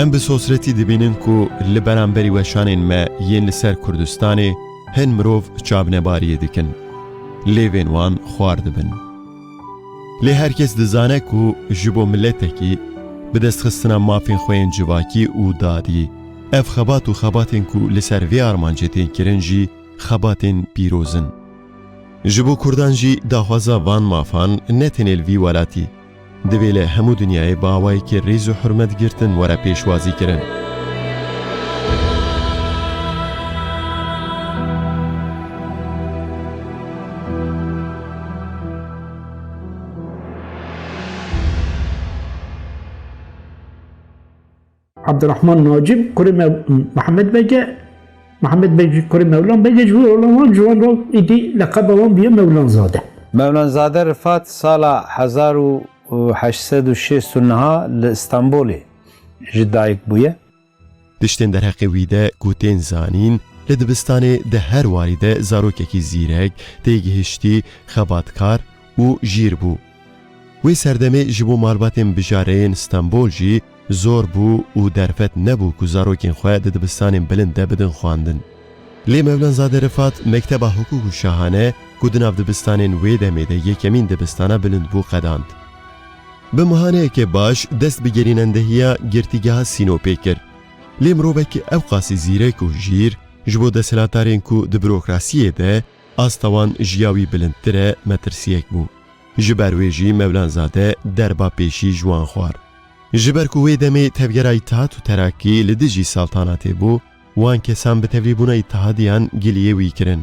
Em bi sosretî dibînin ku li beramberî weşanên me yên li ser Kurdistanê hin mirov çavnebariyê dikin. Lêvên wan xwar dibin. Lê her kes dizane ku ji bo miletekî, bi destxistina mafên xwe yên civakî û dadî, ev xebat û xebatên ku li ser vê armancê tên kirin jî xebatên pîroz in. Ji bo kurdan jî daxwaza van mafan ne tenê li vî welatî, divê li hemû dinyayê bi awayekî rêz û hurmet girtin were pêşwazî kirin. Abdurrahman Nacib kurê Mihemed Bege Mihemed Bege kurê Mewlan Bege ji wî oğlan wan ji wan re êdî leqeba wan bûye Mewlanzade. Mewlanzade Rifat sala hezar û heşt sed û şêst û niha li Stenbolê ji dayik bûye. Tiştên derheqê wî de ku tên zanîn, Li dibistanê di her warî de zarokekî zîrek, têgihiştî, xebatkar û jîr bû. Wê serdemê ji bo malbatên bijareyên Stenbol jî zor bû û derfet nebû ku zarokên xwe di dibistanên bilind de bidin xwendin. Lê Mevlanzade Rifat mekteba hukuk û şahane ku di nav dibistanên wê demê de yekemîn dibistana bilind bû qedand. Bi mihaneyekê baş dest bi gerînendehiya Girtîgeha Sînopê kir. Lê mirovekî ewqasî zîrek û hijîr ji bo desthilatarên ku di bürokrasiyê de asta wan ji ya wî bilindtir e metirsiyek bû. Ji ber wê jî Mevlanzade derba pêşî ji wan xwar. Ji ber ku wê demê Tevgera Îtîhat û Terakî li dijî saltanatê bû, Wan kesan bi tevlîbûna îtihadiyan giliyê wî kirin.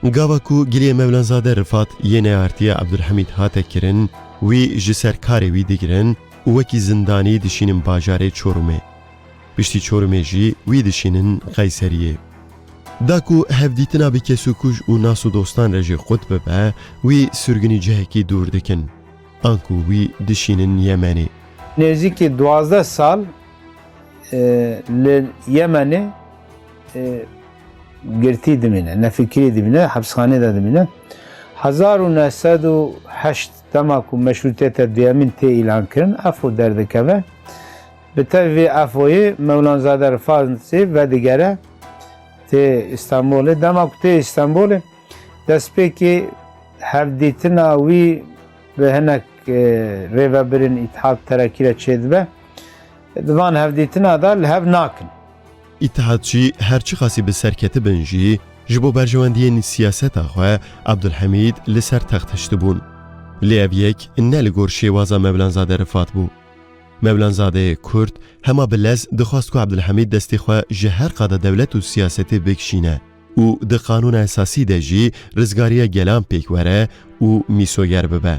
Gava ku giliyê Mevlanzade Rifat yê neartîya Ebdulhemîd hate kirin, wî ji ser karê wî digirin û wekî zindanî dişînin bajarê Çorumê. Piştî Çorumê jî wî dişînin Qeyseriyê. Da ku hevdîtina bi kesûkuj û nas û dostan re jî qut bibe, wî sirgûnî cihekî dûr dikin. Anku wî dişînin Yemenê. Nêzîkî duwazdeh sal li Yemenê girtî dimîne, nefikirî dimîne, hepsxanê de dimîne. Hezar û neh sed û heşt dema ku meşrûtiyete duyemîn tê îlan kirin, EFO derdikeve. Bi tev vê EFOyê Mewlanzade Rifansê vedigere tê Îstanbulê. Dema ku tê Îstanbulê destpêkê hevdîtina wî Bi hinek rêvebirên Îtihad Terakî re çêdibe. Di van hevdîtina de li hev nakin. Îtihadçî her çiqasî bi serketibin jî ji bo berjewendiyên siyaseta xwe Abdulhamîd li ser text hiştibûn. Lê ev yek ne li gor şêwaza Mevlanzade Rifat bû. Mevlanzadeyê Kurd hema bi lez dixwast ku Abdulhamîd destê xwe ji her qada dewlet û siyasetê bikişîne. û di Qanûna Esasî de jî rizgariya gelan pêk were û mîsoger bibe.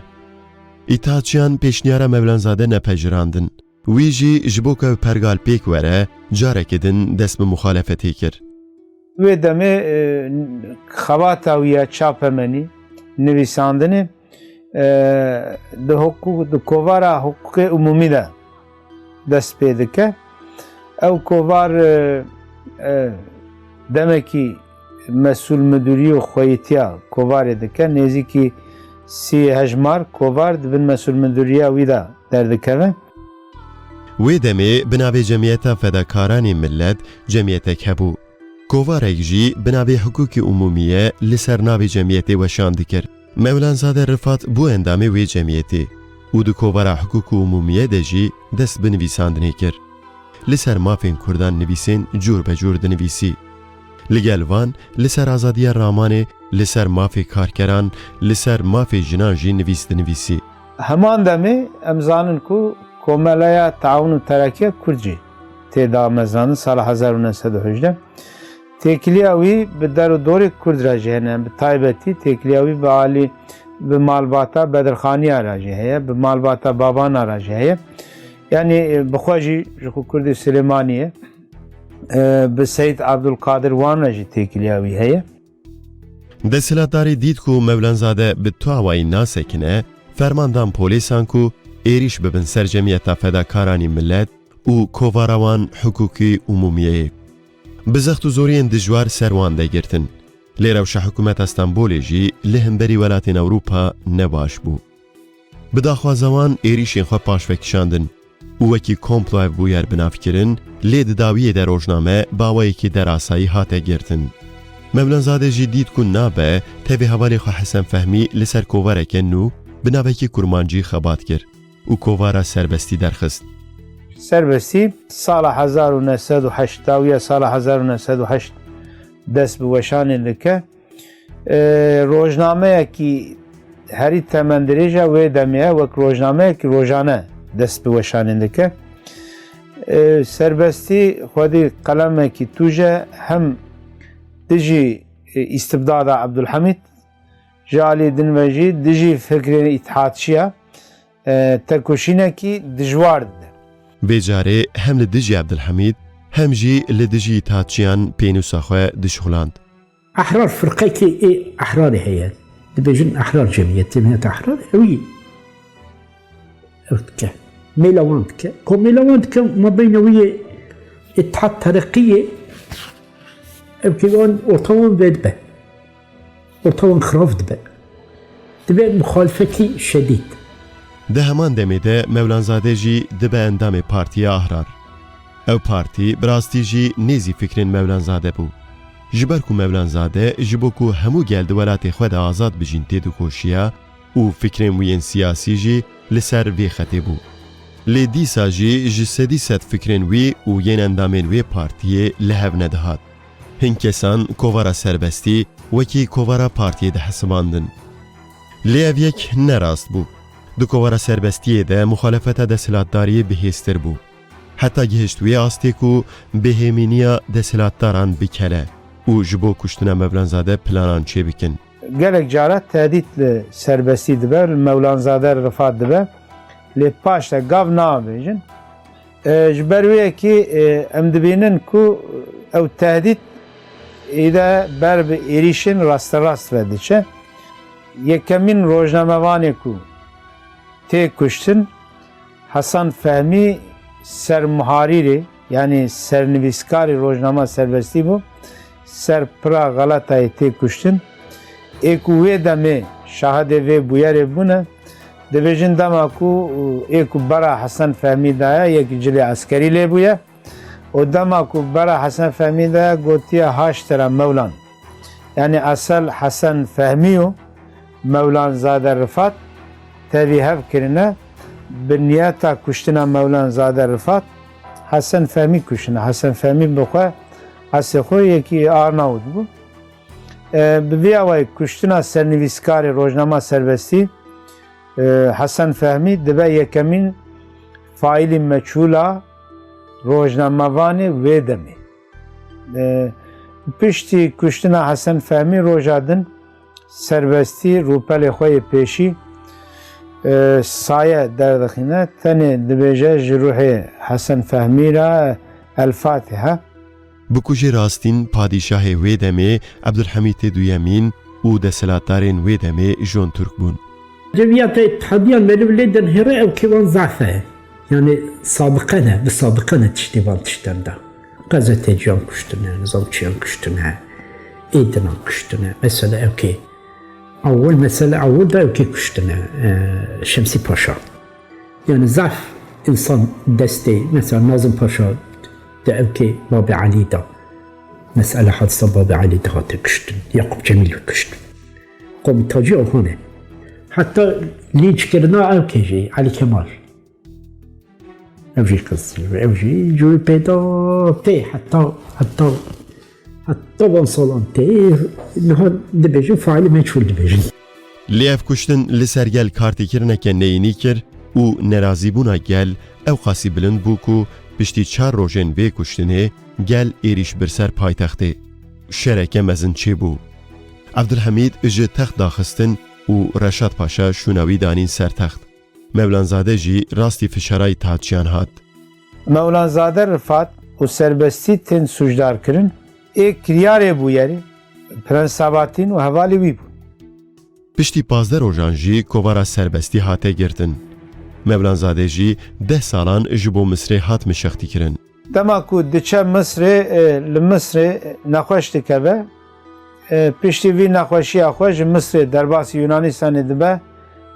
Îttihatçiyan pêşniyara Mevlanzade nepejirandin. Wî jî ji bo ku ev pergal pêk were, carekê din dest bi muxalefetê kir. Wê demê xebata wî ya çapemenî, nivîsandinê di kovara hiqûqê umûmî de. dest pê dike. Ew kovar demekî mesûl midûrî û xweyîtiya kovarê dike. Nêzîkî sî hejmar kovar di bin mesûl midûrîya wî de derdikevin. Wê demê bi navê Cemîyeta Fedakaranê Milet cemîyetek hebû. Kovarek jî bi navê Hukûkê Umûmîye li ser navê cemîyetê weşan dikir. Mevlanzade Rifat bû endamê wê cemiyetê û di kovara hukûk û umûmiyê de jî dest bi nivîsandinê kir. Li ser mafên kurdan nivîsên cûr be cûr dinivîsî. Li gel van li ser azadiya ramanê, li ser mafê karkeran, li ser mafê jinan jî nivîs dinivîsî. Heman demê em zanin ku Komeleya Teawun û Terekiya Kurd jî tê da me zanin sala hezar û neh sed û hejdeh. Têkiliya wî bi der û dorê Kurd re jî hene. Bi taybetî têkiliya wî bi alî bi malbata Bedirxaniya re jî heye, bi malbata Babana re jî heye. Yanî bi xwe jî ji xwe Kurdê Silêmanî ye. Bi Seyîd Abdulkadir Wan re jî têkiliya wî heye. Desthilatdarî dît ku Mevlanzade bi tu awayî nasekine, ferman dan polîsan ku êrîş bibin ser Cemiyeta Fedakaranî Milet û kovara wan Hukukî Umumiyeyê. Bi zext û zoriyên dijwar ser wan de girtin. Lê rewşa hikûmeta Stenbolê jî li hemberî welatên Ewropa ne baş bû. Bi daxwaza wan êrîşên xwe paş vekişandin û wekî komplo ev bûyer binavkirin, lê di dawiyê de rojname bi awayekî derasayî hate girtin. Mevlanzade jî dît ku nabe tevî hevalê xwe Hesen Fehmî li ser kovareke nû bi navekî kurmancî xebat kir. û kovara serbestî derxist. Serbestî sala hezar û neh sed û heşta û ya sala hezar û neh sed û heşt dest bi weşanê dike. Rojnameyekî herî temendirêja wê demê ye wek rojnameyekî rojane dest bi weşanê dike. Serbestî xwedî qelemekî tûj e hem dijî îstibdada Ebdulhemîd Ji alî din ve jî dijî fikrên îtîhatçiya têkoşînekî dijwar dide. Vê carê hem li dijî Ebdulhemîd hem jî li dijî îtîhatçiyan pênûsa xwe dişuxland. Ehrar firqekê ê ehrarê heye. Dibêjin ehrar cemiyetê miyet ehrar ewî ew dike. Mêla wan dike. Ku mêla wan dike ma beyna wî yê îtîhat tereqî yê ew kêvan orta wan vedibe. Orta wan xirav dibe. Dibe muxalifetî şedîd. Di heman demê de Mewlanzade jî dibe endamê Partiya Ahrar. Ew partî bi rastî jî nêzî fikrên Mewlanzade bû. Ji ber ku Mewlanzade ji bo ku hemû gel di welatê xwe de azad bijîn têdikoşiya û fikrên wî yên siyasî jî li ser vê xetê bû. Lê dîsa jî ji sedî sed fikrên wî û yên endamên wê partiyê li hev nedihat. Hin kesan kovara serbestî wekî kovara partiyê dihesibandin. Lê ev yek ne rast bû. Di kovara serbestiyê de muxalefeta desthilatdariyê bihêztir bû. Heta gihişt wê astê ku bêhêmîniya desthilatdaran bikele û ji bo kuştina Mevlanzade planan çêbikin. Gelek caran tehdît li serbestî dibe û li Mevlanzade re Rifat dibe lê paşde gav naavêjin. Ji ber wê yekê em dibînin ku ew tehdît îde ber bi êrîşên rasterast ve diçe. Yekemîn rojnamevanê ku tê kuştin Hasan Fehmî sermuharîrê yanî sernivîskarê rojnama Serbestî bû. Ser pira Galatayê tê kuştin. Ê ku wê demê şahidê vê bûyerê bûne, dibêjin dema ku ê ku bera Hesen Fehmî de ye yek cilê eskerî lê bûye û dema ku bera Hesen Fehmî de ye gotiye Haştira Mewlan. Yanî esel Hesen Fehmî û Mewlanzade Rifat tevî hev kirine bi niyeta kuştina Mewlanzade Rifat. Hesen Fehmî kuşine. Hesen Fehmî bi xwe Asê xwe yekî Arnavut bû. Bi vî awayî kuştina sernivîskarê Rojnama Serbestî Hesen Fehmî dibe yekemîn faîlî meçhûl a rojnamevanê wê demê. Piştî kuştina Hesen Fehmî roja din Serbestî rûpelê xwe yê pêşî saye derdixîne, tenê dibêje ji ruhê Hesen Fehmî re El Fatiha. Bikujê rastîn padîşahê wê demê Ebdulhemîtê Duyemîn û desthilatdarên wê demê Jon Turk bûn. Rêviya te îtihadiya meriv lê dinhêre ew kêvan zafe ye. Yanî sadiqene, bi sadiqene tiştê van tiştan da. Gazeteciyan kuştine, nizam çiyan kuştine, êdinan kuştine. Mesela ew kê ewil mesela ewil da ew kê kuştine e, Şemsî Paşa. Yani zaf insan destê mesela Nazım Paşa de ew kê Babê Alî da. Mesela hadisa Babê Alî de hate kuştin. Yakup Cemîl kuştin. Komî Tacî Ohane. Hatta linç kirina ew kê jî Alî Kemal. Ev jî qız ew jî cûyê pêda tê heta heta heta van salan tê niha dibêjin faîlî meçhûl dibêjin. Lê ev kuştin li ser gel kartêkirineke neyînî kir û nerazîbûna gel ewqasî bilind bû ku piştî çar rojên vê kuştinê gel êrîş bir ser paytextê. Şereke mezin çêbû. Evdilhemîd ji text daxistin û Reşad Paşa şûna wî danîn ser text. Mevlanzade jî rastî fişarayî taçiyan hat. Mevlanzade Rifat û serbestî tên sûcdarkirin, ê kiryarê bûyerê Prens Sabatîn û hevalê wî bûn. Piştî pazdeh rojan jî kovara serbestî hate girtin. Mevlanzade jî deh salan ji bo Misrê hat mişextîkirin. Dema ku diçe Misrê, li Misrê nexweş dikeve. Piştî vî nexweşiya xwe ji Misrê derbasî Yûnanîstanê dibe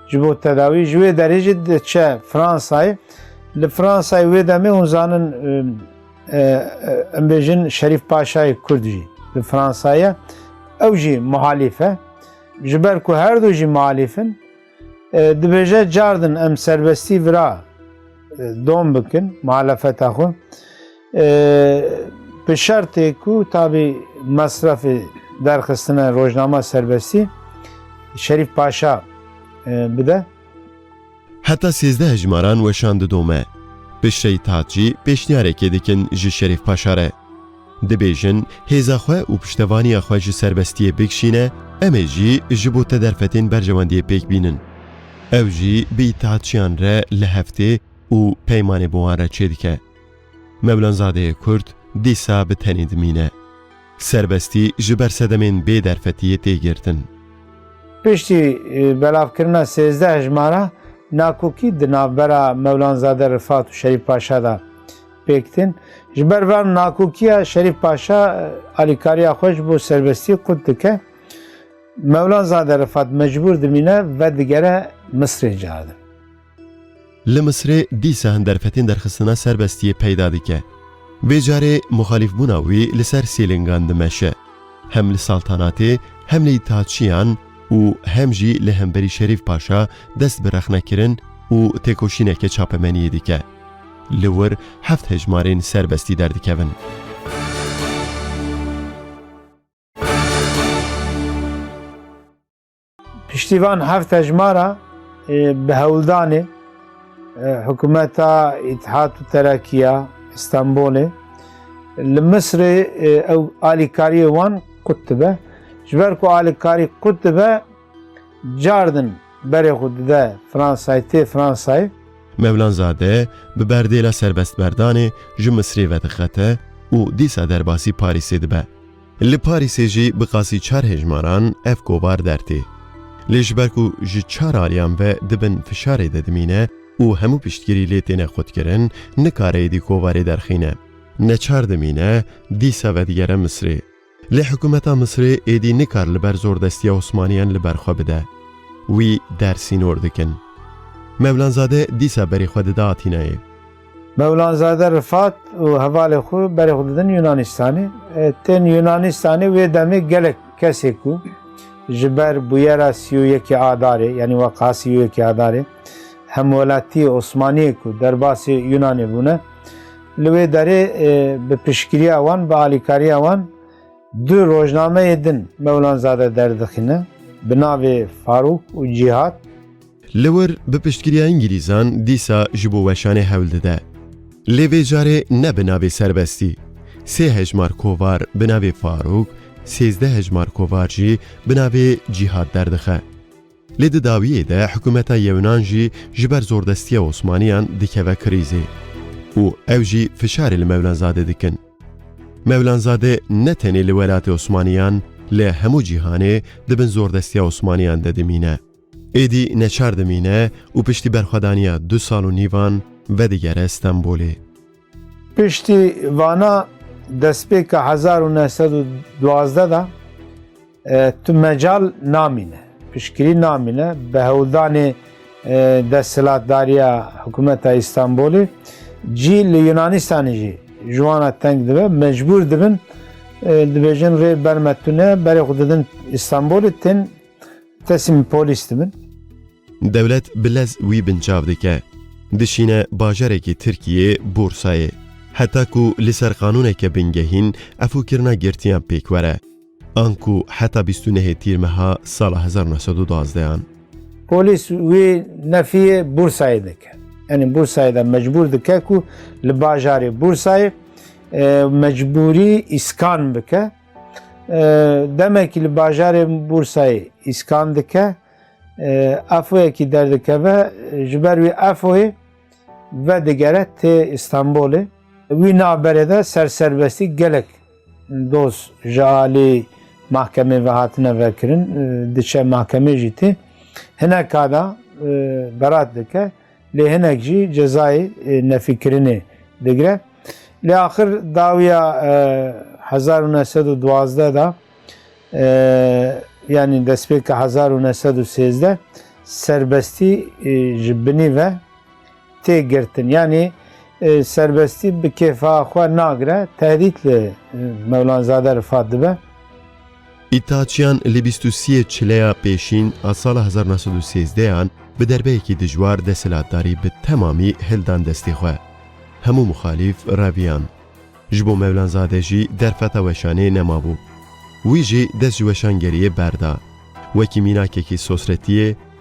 ji bo tedawî. Ji wê derê jî diçe Fransayê. Li Fransayê wê demê hûn zanin em bêjin Şerîf Paşayê Kurd jî li Fransayê ye. Ew jî muhalîf e. Ji ber ku her du jî muhalîf in, Dibêje cardin em serbestî vira dom bikin muhalefeta xwe bi şertê ku tabî mesrefê derxistina rojnama serbestî Şerîf Paşa bide. Heta sêzdeh hejmaran weşan didome. Bişreyî Tatcî pêşniyarekê dikin ji Şerîf Paşa re. Dibêjin, hêza xwe û piştevaniya xwe ji serbestiyê bikişîne, em ê jî ji bo te derfetên berjewendiyê pêk bînin. Ew jî bi îtîhatçiyan re li hev tê û peymanê bi wan re çêdike. Mevlanzadeyê Kurd dîsa bi tenê dimîne. Serbestî ji ber sedemên bê derfetiyê tê girtin. Piştî belavkirina sêzdeh hejmara nakokî di navbera Mevlanzade Rifat û Şerîf Paşa de, Pêktin, ji ber van nakokiya Şerîf Paşa alîkariya xwe ji bo serbestiyê qut dike. Mewlanzade Rifat mecbûr dimîne ve digere Misrê caredin. Li Misrê dîsa hin derfetên derxistina serbestiyê peyda dike. Vê carê muxalîfbûna wî li ser sê lingan dimeşe. Hem li saltanatê, hem li îtîhatçiyan û hem jî li hemberî Şerîf Paşa dest bi rexnekirin û têkoşîneke çapemeniyê dike. Li wir heft hejmarên serbestî derdikevin. Piştî van heft hejmara bi hewldanê hikûmeta Îtîhad û Terakîya Îstanbûlê li Misrê ew alîkariyê wan qut dibe. Ji ber ku alîkarî qut dibe, Cardin berê xwe dide Fransayê tê Fransayê. Mevlanzade bi berdêla serbestmerdanê ji Misrê vedixete û dîsa derbasî Parîsê dibe. Li Parîsê jî bi qasî çar hejmaran ev kovar dertê. Lê ji ber ku ji çar aliyan ve di bin fişarê de dimîne û hemû piştgirî lê têne xwedkirin, nikare êdî kovarê derxîne. Neçar dimîne, dîsa vedigere Misrê. Lê hikûmeta Misirê êdî nikar li ber zordestiya Osmaniyan li ber xwe bide. Wî der sînor dikin. Mevlanzade dîsa berî xwe dide Atînayê. Mevlanzade Rifat û hevalên xwe berî xwe didin Yûnanîstanê. Tên Yûnanîstanê wê demê gelek kesê ku ji ber bûyera sî û yekê Adarê yanî weqeha sî û yekê Adarê hemwelatiyê Osmaniyê ku derbasê Yûnanê bûne, Li wê derê bi piştgiriya wan, bi alîkariya wan du rojnameyê din Mewlanzade derdixîne bi navê Farûk û Cîhat. Li wir bi piştgiriya Îngilîzan dîsa ji bo weşanê hewl dide. Lê vê carê ne bi navê serbestî. Sê hejmar kovar bi navê Farûk, sêzdeh hejmar kovar jî bi navê Cîhat derdixe. Lê di dawiyê de hikûmeta Yewnan jî ji ber zordestiya Osmaniyan dikeve krîzê û ew jî fişarê li Mewlanzade dikin. Mewlanzade ne tenê li welatê Osmaniyan li hemû cîhanê di bin zordestiya Osmaniyan de dimîne. Êdî neçar dimîne û piştî berxwedaniya du sal û nîvan vedigere Stenbolê. Piştî vana destpêka hezar û neh sed û duwazdeh de, Tu mecal namîne, piştgirî namîne bi hewldanê desthilatdariya hikûmeta Îstanbulê cî li Yunanistanê jî ji wan re teng dibe, mecbûr dibin dibêjin rê ber me tune berê xwe didin Îstanbulê tên teslîm polîs dibin. Dewlet bi lez wî binçav dike. Dişîne bajarekî Tirkiyê borsayê. Heta ku li ser qanûneke bingehîn efûkirina girtiyan pêk were. an ku heta bîst û nehê tîr meha sala hezar û neh sed û duwazdeh an. Polîs wî nefiyê Bursayê dike. Yanî Bursayê de mecbûr dike ku li bajarê Bursayê mecbûrî îskan bike. Demekî li bajarê Bursayê îskan dike, efoyekî derdikeve ji ber wî efoyê vedigere tê Îstanbulê. Wî naberê de serserbestî gelek Doz ji alî mahkemê ve hatine vekirin, diçe mahkemê jî tê. Hinek kada berat dike lê hinek jî cezayê nefîkirinê digire. Lê axir dawiya hezar û neh sed û duwazdeh de yanî destpêka hezar û neh sed û sêzdeh serbestî ji binî ve tê girtin yanî serbestî bi kêfa xwe nagire tehdît li Mewlanzade Rifat dibe. Îthaçiyan li bîst û siyê çileya pêşîn a sala hezar û neh sed û sêzdehan bi derbeyekî dijwar desthilatdarî bi temamî hildan destê xwe. Hemû muxalîf reviyan. Ji bo Mewlanzade jî derfeta weşanê nemabû. Wî jî dest ji weşangeriyê berda. Wekî mînakekî sosretiyê,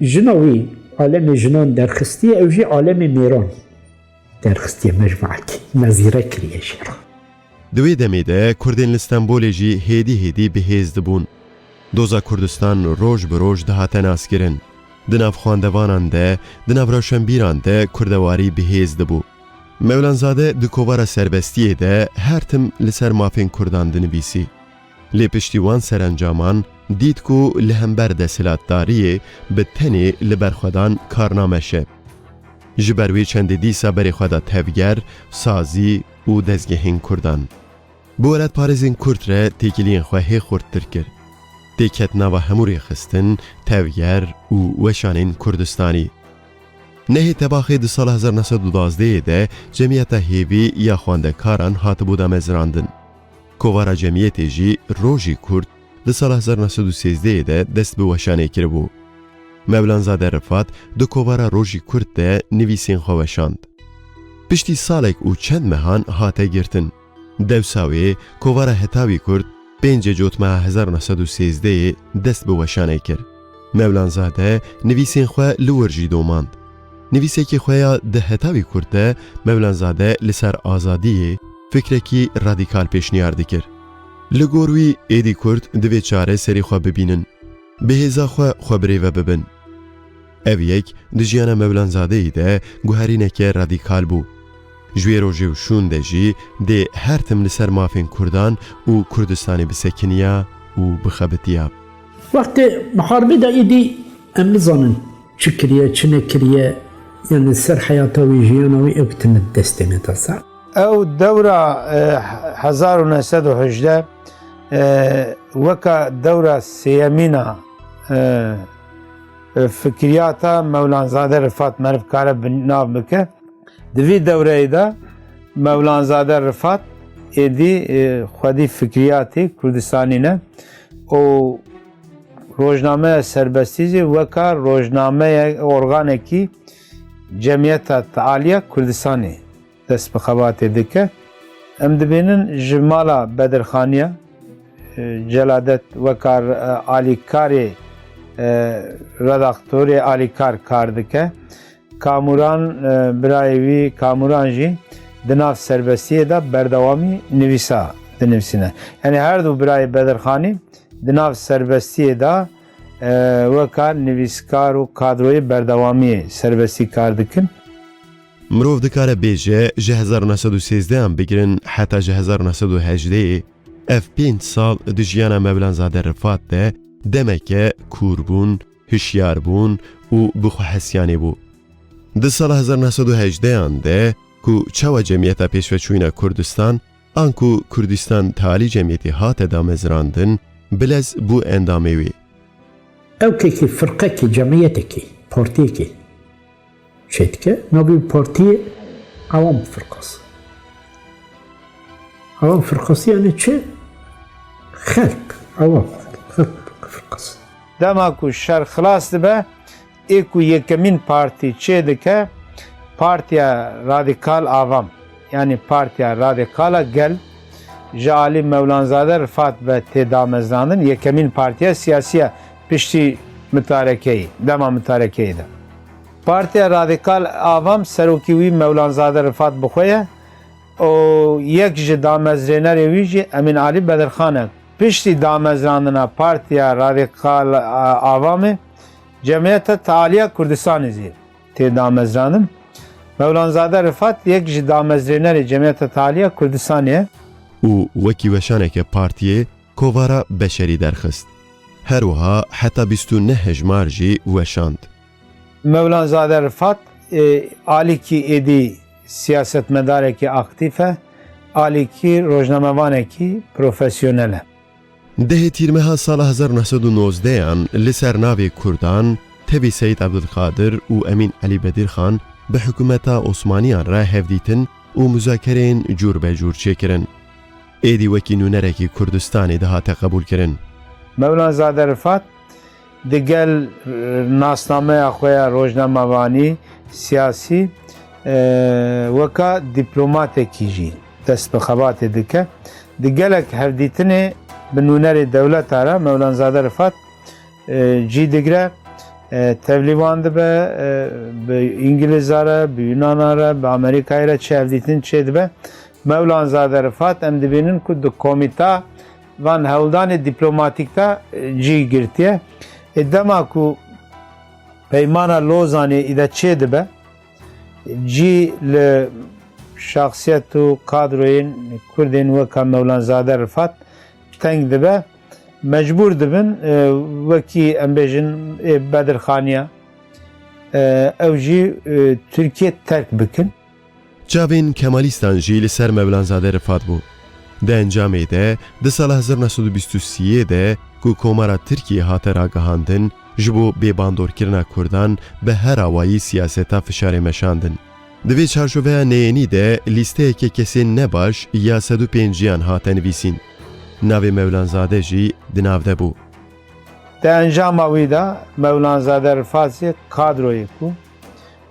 Jina wî alemê jinan derxistiye, ew jî alemê mêran derxistiye, mecmuekî me zîrek kiriye jê re. Di wê demê de Kurdên li Stenbolê jî hêdî hêdî bi hêz dibûn. Doza Kurdistan roj bi roj dihate naskirin. Di nav xwendevanan de, di nav rewşenbîran de kurdewarî bi hêz dibû. Mevlanzade di kovara serbestiyê de her tim li ser mafên Kurdan dinivîsî. Lê piştî wan serencaman dît ku li hember desthilatdariyê bi tenê li ber xwe dan kar nameşe. Ji ber wê çendê dîsa berê xwe da tevger, sazî û dezgehên kurdan. Bi welatparêzên kurd re têkiliyên xwe hê xurttir kir. Tê ket nava hemû rêxistin, tevger û weşanên kurdistanî. Nehê tebaxê di sala hezar neh sed û duwazdeh yê de cemiyeta hêvî ya xwendekaran hatibû damezrandin. Kovara cemiyetê jî Rojî Kurd di sala hezar neh sed û sêzdeh yê de dest bi weşanê kiribû. Mevlanzade Rifat di kovara Rojî Kurd de nivîsên xwe weşand. Piştî salek û çend mehan hate girtin. Dewsa wê kovara Heta wî Kurd pêncê cotmeha hezar neh sed û sêzdeh yê dest bi weşanê kir. Mevlanzade nivîsên xwe li wir jî domand. Nivîsekî xwe ya di heta wî kurt de Mevlanzade li ser azadiyê fikrekî radîkal pêşniyar dikir. Li gor wî êdî kurt divê çare serî xwe bibînin, bi hêza xwe xwe birêve bibin. Ev yek di jiyana Mevlanzadeyê de guherîneke radîkal bû. Ji wê rojê û şûn de jî dê her tim li ser mafên kurdan û Kurdistanê bisekiniya û bixebitiya. Wextê miharbê de êdî em nizanin çi kiriye, çi nekiriye yan li ser heyata wî, jiyana wî ew tune di destê me de. Sa. Ew dewra hezar û neh sed û hejdeh weka dewra sêyemîn a fikriyata Mewlanzade Rifat meriv kare bi nav bike. Di vî dewreyê de Mewlanzade Rifat êdî xwedî fikriyatê Kurdistanî ne. û rojnameya serbestî jî weka rojnameya organekî Cemiyeta Tealiya Kurdistanê dest bi xebatê dike. Em dibînin ji mala Bedirxaniya Celadet weka alîkarê redaktorê alîkar kar dike. Kamuran birayê wî Kamuran jî di nav serbestiyê de berdewamî nivîsa dinivîsîne. Yanî her du birayê Bedirxanî di nav serbestiyê de weka nivîskar û kadroyê berdewamî serbestî kar dikin. Mirov dikare bêje ji hezar û neh sed û sêzdeh an bigirin heta ji hezar û neh sed û hejdeh ê ev pênc sal di jiyana Mevlanzade Rifat de demeke kûrbûn, hişyar bûn û bi xwe hesyanê bû. Di sala hezar neh sed û hejdeh an de ku çawa cemiyeta pêşve çûyne Kurdistan an ku Kurdistan talî cemiyetê hate damezrandin, Bilez bû endamê wê. Ewkekî, firqekî, cemiyetekî, portêkî. Çêdike navê û partiyê Ewan bi firqas. Ewan firqasî yanî çi? Xelk, ewan xelk bi firqas. Dema ku şer xilas dibe ê ku yekemîn partî çêdike Partiya Radîkal Avam yanî Partiya Radîkala Gel ji alî Mewlanzade Rifat ve tê damezrandin, yekemîn partiya siyasî ye. Piştî mutarekeyê, dema mutarekeyê de Partiya Radîkal a vam serokî wî Mewlanzade Rifat bi xwe ye û yek ji damezrênerê wî jî Emîn Alî Bedirxan e. Piştî damezrandina Partiya Radîkal a vamê Cemiyeta Tealiya Kurdistanê jî tê damezrandin. Mewlanzade Rifat yek ji damezrênerê Cemiyeta Tealiya Kurdistanê ye. Û wekî weşaneke partiyê Kovara beşerî derxist. Her wiha heta bîst û neh hejmar jî weşand. Mewlanzade Rifat alîkî êdî siyasetmedarekî aktîf e, alîkî rojnamevanekî profesyonel e. Dehê Tîrmeha sala hezar û neh sed û nozdeyan li ser navê Kurdan tevî Seyîd Ebdulkadir û Emîn Elî Bedîrxan bi hikûmeta Osmaniyan re hevdîtin û muzakereyên cûr be cûr çêkirin. Êdî wekî nûnerekî Kurdistanê dihate qebûlkirin. Mevlanzade Rifat di gel nasnameya xwe ya rojnamevanî, siyasî weka dîplomatekî jî dest bi xebatê dike. Di gelek hevdîtinê bi nûnerê dewleta re Mevlanzade Rifat cî digire, tevlîvan dibe, bi Îngilizare, bi Yunanare, bi Amerîkayê re çi hevdîtin çêdibe Mewlanzade Rifat, Em dibînin ku di komîta van hewldanê dîplomatîk de cî girtiye. Ê dema ku Peymana Lozanê îde çêdibe, cî li şexsiyet û kadroyên Kurdên weka Mewlanzade Rifat teng dibe. Mecbûr dibin wekî em bêjin ê Bedirxaniya ew jî Tirkiye terk bikin. Çavên Kemalîstan jî li ser Mevlanzade Rifat bû. Di encamê de di sala hezar û neh sed û bîst û sî yê de ku Komara Tirkiyê hate ragihandin ji bo bêbandorkirina Kurdan bi her awayî siyaseta fişarê meşandin. Di vê çarçoveya neyênî de lîsteyeke kesên nebaş ya sed û pênciyan hate nivîsîn. Navê Mevlanzade jî di nav de bû. Di encama wî de Mevlanzade Rifat jî kadroyek bû.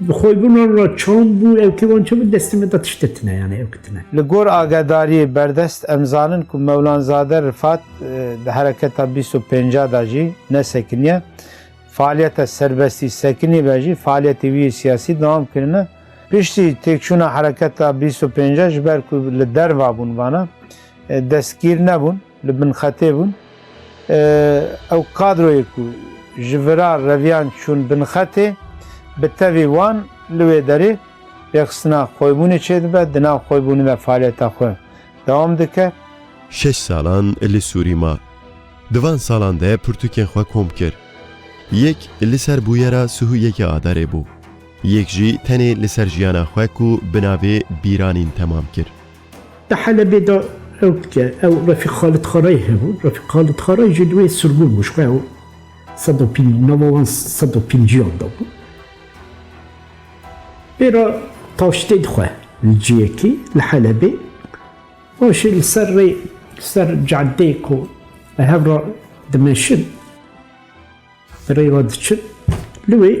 Bi xwe bûna ra çand bû ew kê wan çi bi destê me da tişte tine yani ew kitine. Li gor agedariyê berdest em zanin ku Mewlanzade Rifat di hereketa bîst û pênc a da jî ne sekiniye. Faaliyeta serbestî sekinî be jî faaliyetê wî yê siyasî dewam kirine. Piştî têkçûna hereketa bîst û pênc a ji ber ku li derva bûn vana destgîr nebûn. Li bin xetê bûn. Ew kadroyê ku ji virar reviyan çûn bin xetê, bi tevî wan li wê derê rêxistina xwebûnê çêdibe, di nav xwebûnê de faaliyeta xwe dewam dike. Şeş salan li Sûrî ma. Di van salan de pirtûkên xwe kom kir. Yek li ser bûyera sihû yekê adarê bû. Yek jî tenê li ser jiyana xwe ku bi navê Bîranîn temam kir. Di Helebê de rewtke ew Refîk Xalid Xarayî hebû. Refîk Xalid Xarayî jî duwê sirgûn bû. Ji xwe ew sed û pênc nava wan sed û pênciyan de bû. Pê re taştê dixwe li ciyekî li Helebê. Paşê li ser rê li ser cadeyê ku li hev re dimeşin. Rê ve diçin li wê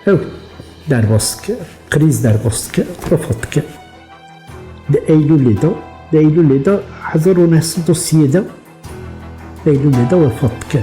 ew derbas dike, krîz derbas dike, refa dike. Di Eylûlê de, di Eylûlê de hezar û neh sed û sî yê de Eylûlê de wefat dike.